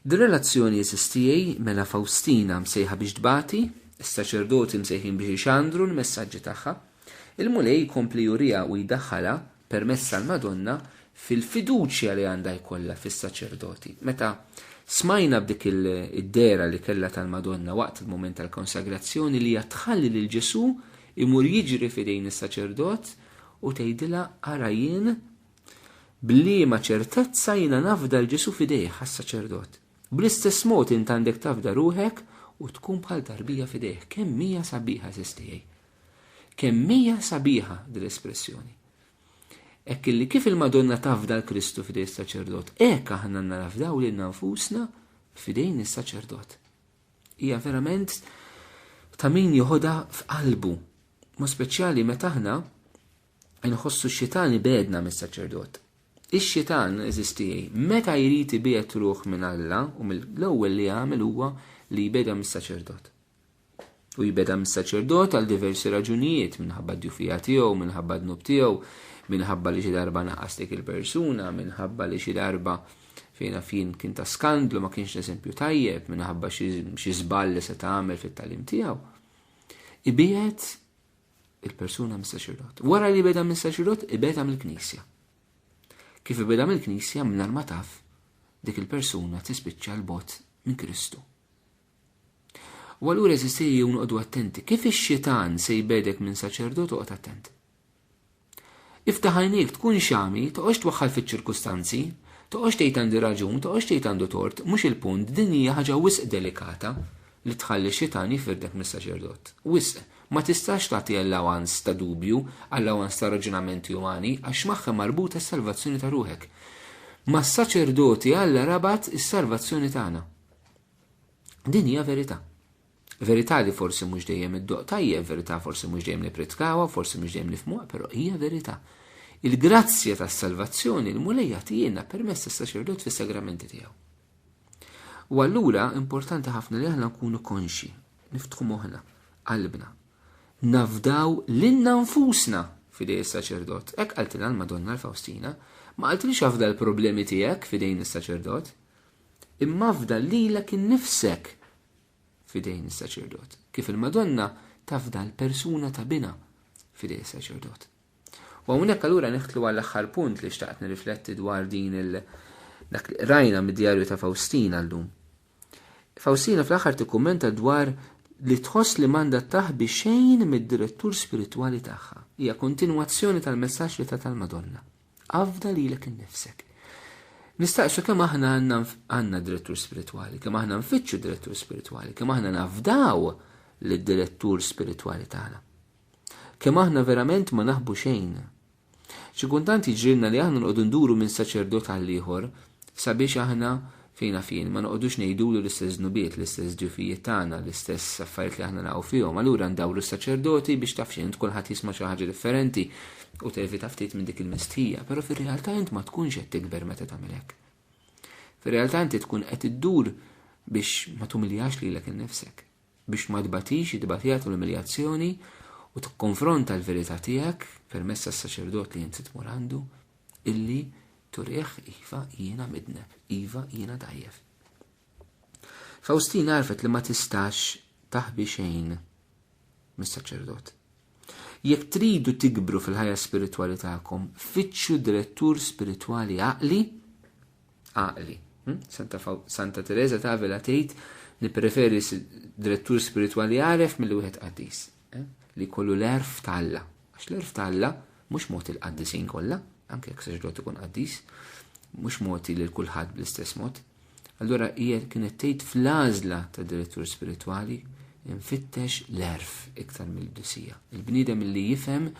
Dir-relazzjoni għeżież tiegħi, mela Fawstina msejħa biex tbati, is-saċerdoti msejħin biex ixandru l-messaġġi tagħha. Il-Mulej jkompli juriha u jdaħħalha, permezz tal-Madonna, fil-fiduċja li għandha jkollha fis-saċerdoti. Meta smajna b'dik id-dehra li kellha tal-Madonna waqt il-mument tal-konsagrazzjoni li hija tħalli lil Ġesù imur jiġri f'idejn is-saċerdot u tgħidilha ara jien B'liema ċertezza jiena nafda 'l Ġesù f'idejh għas-saċerdot? Bl-istess mod int għandek tafda ruħek u tkun bħal tarbija f'idejh. Kemm hija sabiħa, għażiż tiegħi! Kemm hija sabiħa din l-espressjoni! Hekk illi kif il-Madonna tafda 'l Kristu f'idej is-saċerdot, hekk aħna għandna nafdaw lilna nfusna f'idejn is-saċerdot. Hija verament ta' min joħodha f'qalbu, mod speċjali meta aħna Inħossu x-xitan ibegħedna mis-saċerdot. Ix-xitan, eżis tiegħi, meta jrid ibiegħed ruħ minn Alla u mill-ewwel li jagħmel huwa li jbegħda mis-saċerdot. U jbegħda mis-saċerdot għal diversi raġunijiet minħabba d-djufija tiegħu, minħabba d-dnub tiegħu, minħabba li xi darba naqas dik il-persuna, minħabba li xi darba fejna fin kien ta' skandlu ma kienx eżempju tajjeb minħabba xi żball li se tagħmel fit-talim tiegħu. Ibiet il-persuna mis-saċerdot. Wara li beda mis-saċerdot, ibeda mill-knisja. Kif ibeda mill-knisja mingħajr ma taf, dik il-persuna tispiċċa l-bot minn Kristu. U allura eżisti jew noqogħdu attenti, kif ix-xitan se jbedek minn saċerdot oqgħod attent. Iftaħ għajnejk, tkun xami, toqgħodx twaħħal fiċ-ċirkustanzi, toqgħodx tgħid għandi raġun, toqgħodx tgħid għandu tort, mhux il-punt, din hija ħaġa wisq delikata li tħalli x-xitan jifrdek mis-saċerdot. Wisq. Ma tistax tagħti allowance ta' dubju, allowance ta' raġunamenti umani, għax magħha marbuta s-salvazzjoni ta' ruħek. Mas-saċerdoti Alla rabat is-salvazzjoni tagħna. Din hija verità. Verità li forsi mhux dejjem iddoqq tajjeb, verità forsi mhux dejjem nippritkawha, forsi mhux dejjem nifhmuha, però hija verità. Il-grazzja tas-salvazzjoni l-Mulej jagħtihilna permezz tas-saċerdot fis-sagramenti tiegħu. U allura importanti ħafna li aħna nkunu konxi, niftħu moħħna, qalbna. Nafdaw lilna nfusna fidej is-saċerdot. Hekk qaltilha l-Madonna l-Fawstina, ma qaltilix afda l-problemi tiegħek fidejn is-saċerdot, imma afda lilek innifsek fidejn is-saċerdot, kif il-Madonna tafda l-persuna ta' bina fidej is-saċerdot. U hawnhekk allura neħtlu għall aħħar punt li xtaqt nirrifletti dwar din il dak li rajna mid-djarju ta' Faustina llum. Faustina fl-aħħar tikkummenta dwar li tħoss li manda taħbi xejn mid-direttur spiritwali tagħha. Hija kontinwazzjoni tal-messaġġ li ta' tal-Madonna. Afda lilek innifsek. Nistaqsu kemm aħna għandna direttur spiritwali, kemm aħna nfittxu direttur spiritwali, kemm aħna nafdaw lid-direttur spiritwali tagħna. Kemm aħna verament ma naħbu xejn. Xi kuntant jiġrilna li aħna nqogħdu nduru minn saċerdot għal ieħor Sabiex aħna, fejn naf jien, ma noqogħdux ngħidulu l-istess dnubiet, l-istess djufijiet tagħna, l-istess affarijiet li aħna naqgħu fihom, allura ndawru s-saċerdoti biex taf x'int, kulħadd jisma' xi ħaġa differenti u tevita ftit minn dik il-mistħija, però fir-realtà int ma tkunx qed tikber meta tagħmel hekk. Fir-realtà inti tkun qed iddur biex ma tumiljax lilek innifsek. biex ma tbatix it-tbatija tal-umiljazzjoni u tikkonfronta l-verità tiegħek permezz tas-saċerdot li inti tmur għandu, illi turih iva jiena midneb, iva jiena dgħajjef. Fawstina għarfet li ma tistax taħbi xejn mis-saċerdot. Jekk tridu tikbru fil-ħajja spiritwali tagħkom, fittxu direttur spiritwali għaqli għaqli. Hm? Santa, Santa Teresa ta' Avila tgħid nippreferi direttur spiritwali għaref mill wieħed qaddis eh? li kollu l-erf ta' Alla. Għax l-erf ta' Alla mhux mod il-qaddisin kollha, anke jekk saġdot ikun qaddis, mhux moti lil kulħadd bl-istess mod. Allura hija kienet tgħid fl-għażla ta' direttur spiritwali infittex l-erf iktar mill-disija. Il-bniedem li jifhem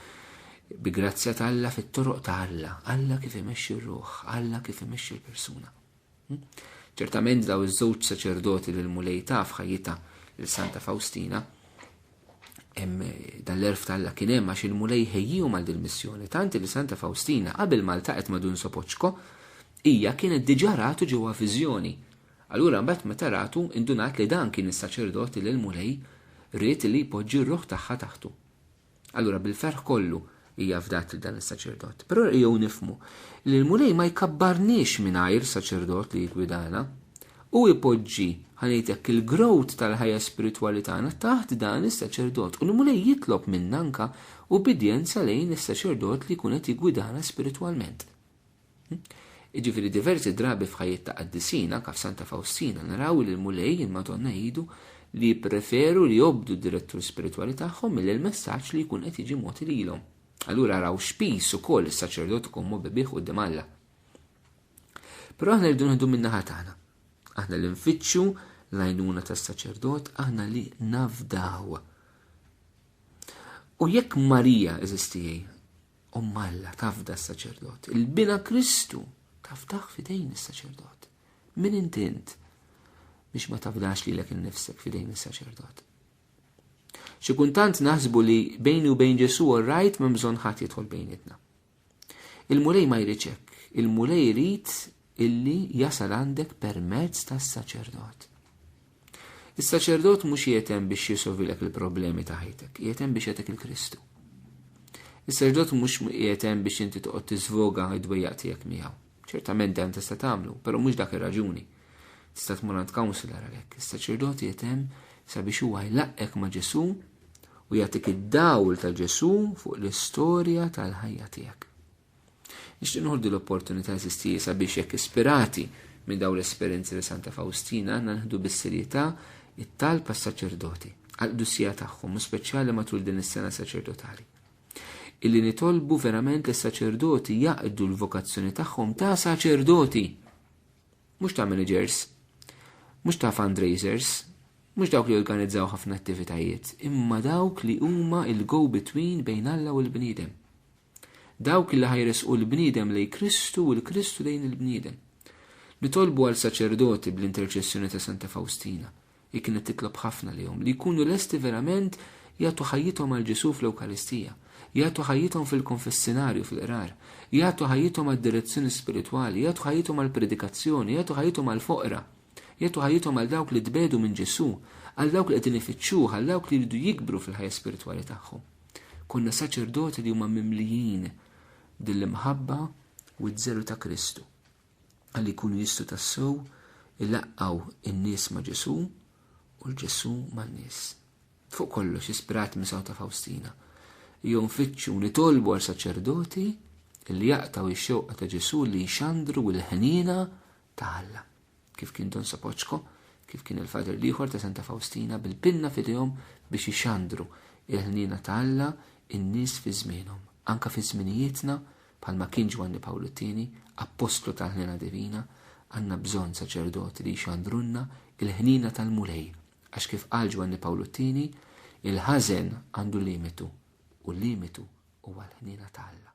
Bi grazzja ta' Alla fit-toroq ta' Alla, Alla kif imexxi r-ruħ, Alla kif imexxi l-persuna. Hm? Ċertament daw iż-żewġ saċerdoti li l-Mulej ta' f'ħajjitha lil Santa Fawstina hemm dan l-erf ta' Alla kien hemm għax il-Mulej ħejjihom għal dil-missjoni tant li Santa Fawstina qabel ma ltaqet ma' Dun Sopoċko hija kienet diġà ratu ġewwa viżjoni. Allura mbagħad meta ratu indunat li dan kien is-saċerdoti li l-Mulej ried li jpoġġi r-ruħ tagħha taħtu. Allura bil-ferħ kollu hija fdat lil dan is-saċerdot. Però jew nifhmu li l-Mulej ma jkabbarniex mingħajr saċerdot li jiggwidana. Hu jpoġġi, ħa ngħid hekk, il-growth tal-ħajja spiritwali tagħna taħt dan is-saċerdot u l-Mulej jitlob minna anke ubbidjenza lejn is-saċerdot li jkun qed jiggwidana spiritwalment. Iġifiri diversi drabi f'ħajjet ta' qaddisin, anka f'Santa Fawstina, naraw li l-Mulej, il-Madonna jgħidu li jippreferu li jobdu d-direttur spiritwali tagħhom milli l-messaġġ li jkun qed jiġi mogħti lilhom. Allura araw x'piż ukoll is-saċerdot ikun mobbi bih quddiem Alla. Però aħna rridu nieħdu min-naħa tagħna. Aħna li nfittxu l-għajnuna tas-saċerdot, aħna li nafdaw. U jekk Marija eżistijaj, Omm Alla tafda s-saċerdot. Il-bina Kristu tafdaħ fidejn is-saċerdot. Min intint biex ma tafdax li l-ek nifsek fidejn is-saċerdot. Xi kuntant naħsbu li bejni u bejn Ġesu u rajt minn bżonn ħadd jidħol bejnietna. Il-Mulej ma jriċek, il-Mulej jrid illi jasal għandek permezz tas-saċerdot. Is-saċerdot mhux jietem biex jisovilek il-problemi ta' ħajtek, jietem biex jagħtek il-Kristu. Is-saċerdot mhux jietem biex inti toqgħod tiżvoga id-dwejjaq tiegħek miegħu. Ċertament dan tista' tagħmlu, però mhux dak ir-raġuni. Tista' tmur għand counselor għalhekk. Is-saċerdot jietem sabiex huwa jlaqqek ma' Ġesu u jagħtik id-dawl ta' Ġesu fuq l-istorja tal-ħajja tiegħek. Nixtieq nħoddi l-opportunità eżistija sabiex jekk ispirati minn daw l-esperjenzi li Santa Fawstina għandna nħdu bis-serjetà it-talb għas-saċerdoti għall-qdusija tagħhom u speċjali matul din is-sena saċerdotali. Illi nitolbu verament li s-saċerdoti jaqdu l-vokazzjoni tagħhom ta' saċerdoti. Mhux ta' managers, mhux ta' fundraisers, mhux dawk li organizzaw ħafna attivitajiet, imma dawk li huma il-go-between bejn Alla u l-bniedem. Dawk li ħajresqu l-bniedem lejn Kristu u l-Kristu lejn il-bniedem. Nitolbu għal saċerdoti bl-interċessjoni ta' Santa Fawstina, hi kienet titlob ħafna lihom, li jkunu lesti verament jagħtu ħajjithom għal Ġesù fl-Ewkaristija, jagħtu ħajjithom fil-konfessinarju fil-qrar, jagħtu ħajjithom għad-direzzjoni spiritwali, jagħtu ħajjithom għall-predikazzjoni, jagħtu ħajjithom għall-foqra, jagħtu ħajjithom għal dawk li tbedu minn Ġesù, għal dawk li qegħdin ifittxuh, għal dawk li jridu jikbru fil-ħajja spiritwali tagħhom. Konna saċerdoti li huma mimlijin din l-imħabba u ż-żelu ta' Kristu, ħalli jkunu jistgħu tassew ilaqqgħu n-nies ma' Ġesù u l-Ġesù man-nies. Fuq kollox, ispirat minn Santa Fawstina, jew nfittxu nitolbu għal saċerdoti li jaqtaw ix-xewqa ta' Ġesù li jxandru l-ħniena ta' Alla. kif kien Don Sapoċko, kif kien il-Fader liħor ta' Santa Faustina bil-pinna fidejhom biex ixandru il-ħnina ta' Alla in-nies fi żmienhom. Anka fi żminijietna, bħalma kien Ġwanni Pawlu t-Tieni, appostlu tal-ħnina divina, għandna bżonn saċerdoti li jxandrulna il-ħnina tal-Mulej. Għax kif qal Ġwanni Pawlu t-Tieni, il-ħażen għandu limitu u l-limitu huwa l-ħnina ta' Alla.